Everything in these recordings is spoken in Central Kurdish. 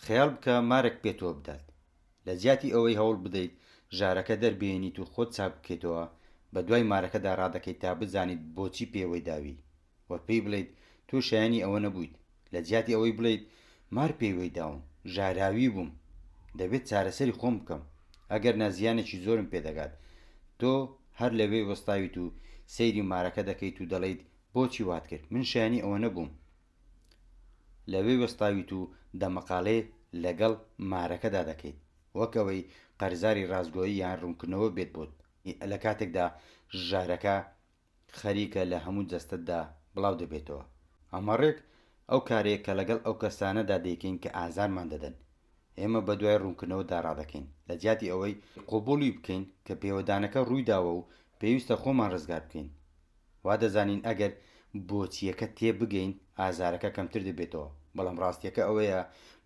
خەیاڵ بکە مارێک پێتەوە بدات. لە جیاتی ئەوەی هەوڵ بدەیت ژارەکە دەربهێنیت و خۆت چاک بکەیتەوە، بە دوای مارەکەدا ڕادەکەیت تا بزانیت بۆچی پێوەی داوی و پێی بڵێیت تۆ شایەنی ئەوە نەبوویت. لە جیاتی ئەوەی بڵێیت مار پێوەی داوم، ژاراوی بووم، دەبێت چارەسەری خۆم بکەم، ئەگەر نا زیانێکی زۆرم پێ دەگات. تۆ هەر لەوێ وەستاویت و سەیری مارەکە دەکەیت و دەڵێیت بۆچی وات کرد، من شایەنی ئەوە نەبووم. لەوێ وەستاویت و دەمەقاڵێ لەگەڵ مارەکەدا دەکەیت، وەک ئەوەی قەرزاری ڕاستگۆیی یان ڕوونکردنەوە بێت بۆت، لە کاتێکدا ژارەکە خەریکە لە هەموو جەستەتدا بڵاو دەبێتەوە. ئەمە ڕێک ئەو کارەیە کە لەگەڵ ئەو کەسانەدا دەیکەین کە ئازارمان دەدەن. ئێمە بەدوای ڕوونکردنەوەدا ڕادەکەین، لە جیاتی ئەوەی قبووڵی بکەین کە پێوەدانەکە ڕوویداوە و پێویستە خۆمان ڕزگار بکەین. وا دەزانین ئەگەر بۆچییەکە تێبگەین، ئازارەکە کەمتر دەبێتەوە. بەڵام ڕاستییەکە ئەوەیە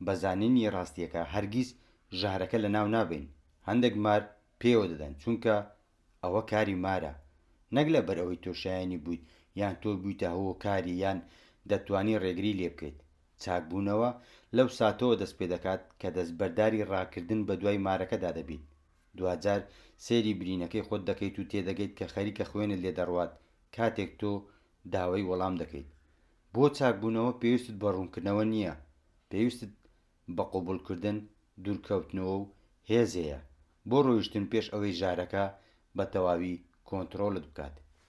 بە زانینی ڕاستییەکە هەرگیز ژەهرەکە لەناو نابەین. هەندێک مار پێیەوە دەدەن، چونکە ئەوە کاری مارە، نەک لەبەر ئەوەی تۆ شایەنی بوویت یان تۆ بوویتە هۆکاری یان دەتوانی ڕێگری لێ بکەیت. چاکبوونەوە لەو ساتەوە دەست پێ دەکات کە دەستبەرداری ڕاکردن بەدوای مارەکەدا دەبیت. دواجار سەیری برینەکەی خۆت دەکەیت و تێدەگەیت کە خەریکە خوێنت لێ دەڕوات کاتێک تۆ داوای وەڵام دەکەیت. بۆ چاکبوونەوە پێویستت بە ڕوونکردنەوە نییە، پێویستت بە قبوڵکردن، دوورکەوتنەوە و هێز هەیە بۆ ڕۆیشتن پێش ئەوەی ژارەکە بە تەواوی کۆنتڕۆڵت بکات.